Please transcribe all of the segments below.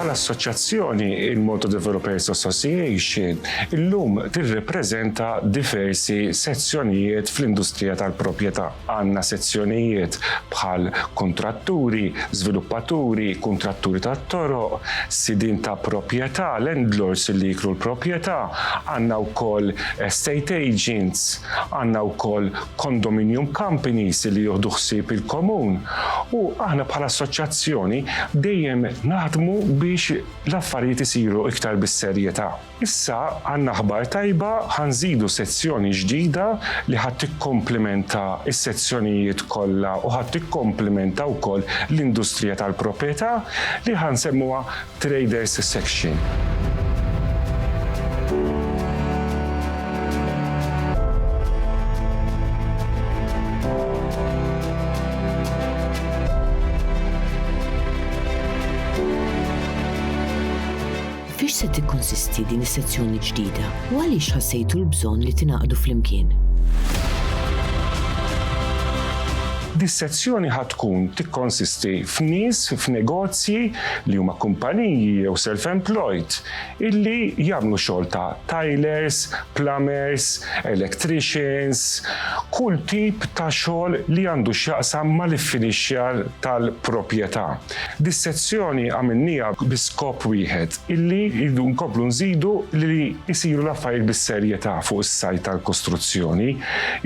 Bħala assoċjazzjoni, il-Malta Developers Association illum tirrepreżenta diversi sezzjonijiet fl-industrija tal-proprjetà. Għandna sezzjonijiet bħal kuntratturi, żviluppaturi, kuntratturi tat-toroq, sidien ta' proprjetà, landlords li jikru l-proprjetà, għandna wkoll estate agents, għandna wkoll condominium companies li jieħdu ħsieb il-komun u aħna bħala assoċjazzjoni dejjem naħdmu biex l-affarijiet isiru iktar bis-serjetà. Issa għandna aħbar tajba, ħa nżidu sezzjoni ġdida li ħa tikkomplimenta s-sezzjonijiet kollha u ħa tikkomplimenta wkoll l-industrija tal-proprjetà li ħa nsemmuha Traders Section. Fiex se tikkonsisti din is-sezzjoni ġdida u għaliex ħassejtu l-bżonn li tingħaqdu flimkien? Dis-sezzjoni ħa tkun tikkonsisti f'nies f'negozji li huma kumpaniji jew self-employed illi jagħmlu xogħol ta' tilers, plumbers, electricians, kull tip ta' xogħol li għandu x'jaqsam mal-iffinixxjar tal-proprjetà. Dis-sezzjoni għamilniha bi skop wieħed. illi rridu nkomplu nżidu li jsiru l-affarijiet bis-serjetà fuq is-sajt tal-kostruzzjoni.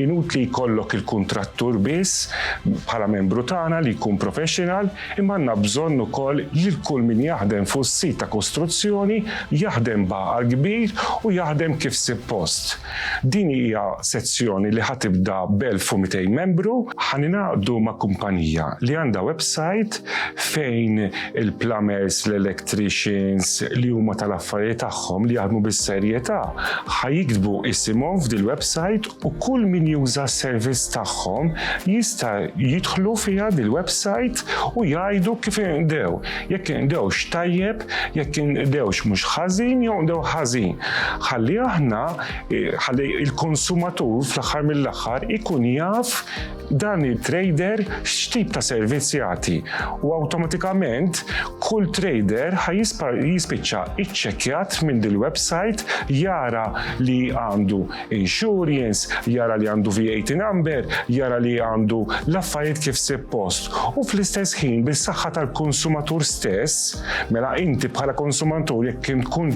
Inutli jkollok il-kuntrattur biss bħala membru tagħna li jkun professional, imma għandna bżonn ukoll lil kull min jaħdem fuq is-sit ta' kostruzzjoni jaħdem b'għaqal kbir u jaħdem kif sippost. Din hija sezzjoni li ħa tibda b'elf u mitejn membru. Ħa ningħaqdu ma' kumpanija li għandha websajt fejn il-plumbers, l-electricians li huma tal-affarijiet tagħhom li jaħdmu bis-serjetà ħa jiktbu isimhom f'dil-websajt u kull min juża s-servizz tagħhom jista' jidħlu fiha dil-websajt u jgħidu kif inqdew. Jekk inqdewx tajjeb, jekk inqdewx mhux ħażin jew nqdew ħażin. Ħalli aħna, eh, ħalli il-konsumatur fl-aħħar mill-aħħar ikun jaf dan il-trader x'tip ta' servizz jagħti. U awtomatikament kull trader jispiċċa iċċekkjat minn dil-website jara li għandu insurance, jara li għandu VAT number, jara li għandu l-affarijiet kif suppost. U fl-istess ħin bis-saħħa tal-konsumatur stess, mela inti bħala konsumatur jekk kien tkun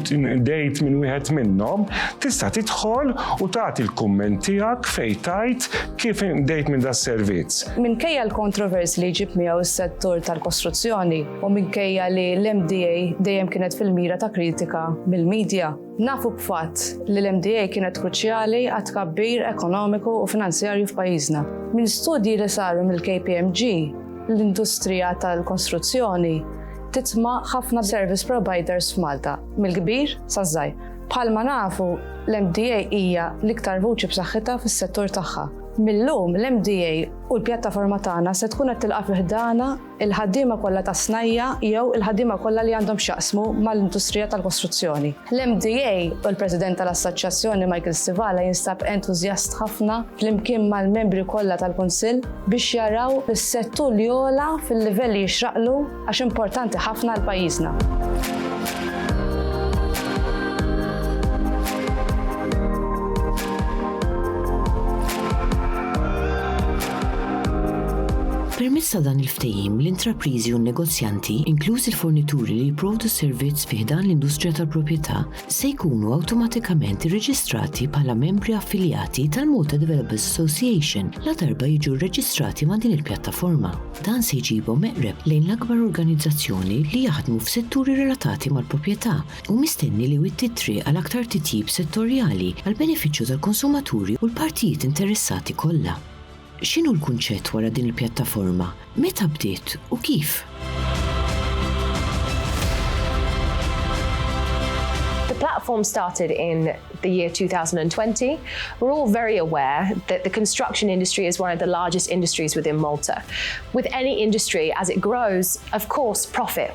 dejt minn wieħed minnhom, tista' tidħol u tagħti l-kumment tiegħek fejn tajt kif dejt minn das servizz. Minkejja l-kontrovers li jġib miegħu s-settur tal-kostruzzjoni u minkejja li l-MDA dejjem kienet fil-mira ta' kritika mill-medja, Nafu b'fatt li l-MDA kienet kruċjali għat-tkabbir ekonomiku u finanzjarju f'pajjiżna. Minn studji li saru mill-KPMG, l-industrija tal-kostruzzjoni titma' ħafna service providers f'Malta, mill-kbir saż-żgħir. Bħalma nafu, l-MDA hija l-iktar vuċi b'saħħitha fis-settur tagħha. Mil-lum, l-MDA u l-pjattaforma tagħna se tkun qed tilqa' fi ħdana il-ħaddiema kollha tas-snajja' jew il-ħaddiema kollha li għandhom x'jaqsmu mal-industrija tal-kostruzzjoni. L-MDA u l-President tal-Assoċjazzjoni Michael Stivala jinstab entużjast ħafna flimkien mal-membri kollha tal-Kunsill biex jaraw is-settur li jogħla fil-livell li jixraqlu għax importanti ħafna għal pajjiżna. Permezz ta' dan il-Ftehim, l-intrapriżi u n-negozjanti, inkluż il-fornituri li jipprovdu s-servizz fi ħdan l-industrija tal-proprjetà, se jkunu awtomatikament irreġistrati bħala membri affiljati tal-Malta Developers Association ladarba jiġu rreġistrati ma' din il-pjattaforma. Dan se jġibhom eqreb lejn l-akbar organizzazzjoni li jaħdmu f'setturi relatati mal-proprjetà, Hu mistenni li jwitti t-triq għal aktar titjib settorjali għall-benefiċċju tal-konsumaturi u l-partijiet interessati kollha. X'inhu l-kunċett wara din il-pjattaforma, meta bdiet u kif? The platform started in the year 2020. We're all very aware that the construction industry is one of the largest industries within Malta. With any industry, as it grows, of course, profit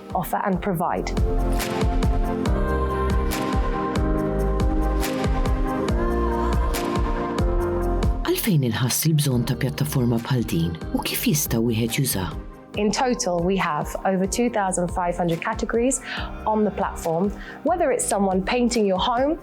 offer and provide. Għalfejn inħass il-bżonn ta' pjattaforma bħal din u kif jista' wieħed jużaha? In total, we have over 2,500 categories on the platform, whether it's someone painting your home,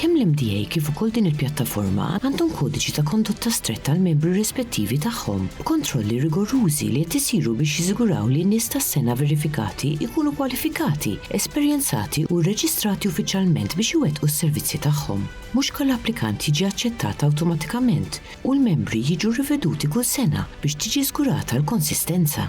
Kemm l-MDA kif ukoll din il-pjattaforma għandhom kodiċi ta' kondotta stretta għall-membri rispettivi tagħhom, b'kontrolli rigorużi li qed isiru biex jiżguraw li n-nies tas-sengħa verifikati jkunu kwalifikati, esperjenzati u rreġistrati uffiċjalment biex iwettqu s-servizzi tagħhom. Mhux kull applikant jiġi aċċettat awtomatikament u l-membri jiġu riveduti kull sena biex tiġi żgurata l-konsistenza.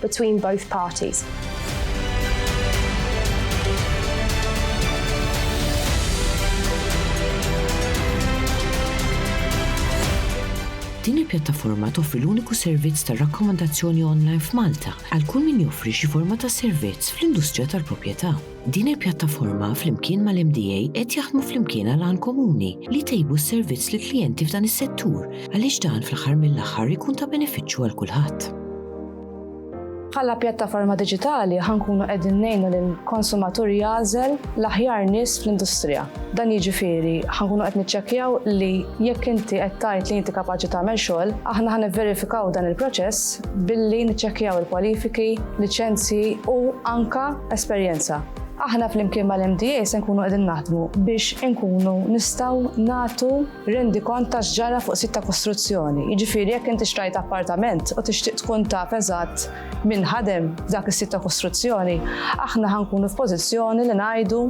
between both parties. Din il-pjattaforma toffri l-uniku servizz ta' rakkomandazzjoni online f'Malta għal kull min joffri xi forma ta' servizz fl-industrija tal-proprjetà. Din il-pjattaforma flimkien mal-MDA qed jaħdmu flimkien għal għan komuni li jtejbu s-servizz lill-klijenti f'dan is-settur għaliex dan fl-aħħar mill-aħħar ikun ta' benefiċċju għal kulħadd. Bħala pjattaforma diġitali ħa nkunu qegħdin ngħinu lill-konsumatur jagħżel l-aħjar nies fl-industrija. Dan jiġifieri ħa nkunu qed niċċekkjaw li jekk inti qed tgħid li inti kapaċi tagħmel xogħol, aħna ħa nivverifikaw dan il-proċess billi niċċekkjaw il-kwalifiki, liċenzji u anke esperjenza. Aħna flimkien mal-MDA se nkunu qegħdin naħdmu biex inkunu nistgħu nagħtu rendikont ta' x'ġara fuq sit ta' kostruzzjoni. Jiġifieri jekk inti xtrajt appartament u tixtieq tkun taf eżatt min ħadem dak is-sit ta' kostruzzjoni, aħna ħankunu f'pożizzjoni li ngħidu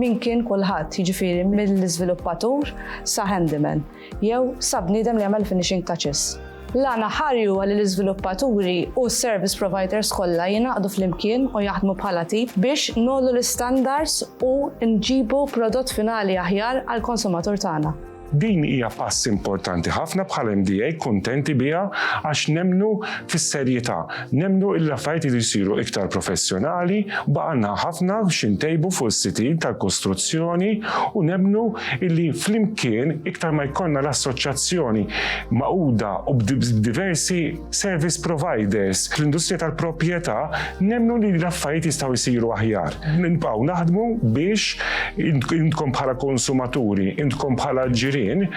min kien kulħadd, jiġifieri mill-iżviluppatur sa handyman. jew sa bniedem li jagħmel finishing touches. L-għan aħħari huwa li l-iżviluppaturi u s-service providers kollha jingħaqdu flimkien u jaħdmu bħala team biex ngħollu l-istandards u nġibu prodott finali aħjar għall-konsumatur tagħna. Din hija pass importanti ħafna bħala MDA kuntenti biha għax nemmnu fis-serjetà Nemmnu li l-affarijiet iridu jsiru iktar professjonali, baqgħalna ħafna xi ntejbu fuq is-sitin tal-kostruzzjoni u nemmnu li flimkien iktar ma jkollna l-assoċjazzjoni magħquda u b'diversi service providers fl-industrija tal-proprjetà, nemmnu li l-affarijiet jistgħu jsiru aħjar. Nibqgħu naħdmu biex intkom bħala konsumaturi, intkom bħala ġirien,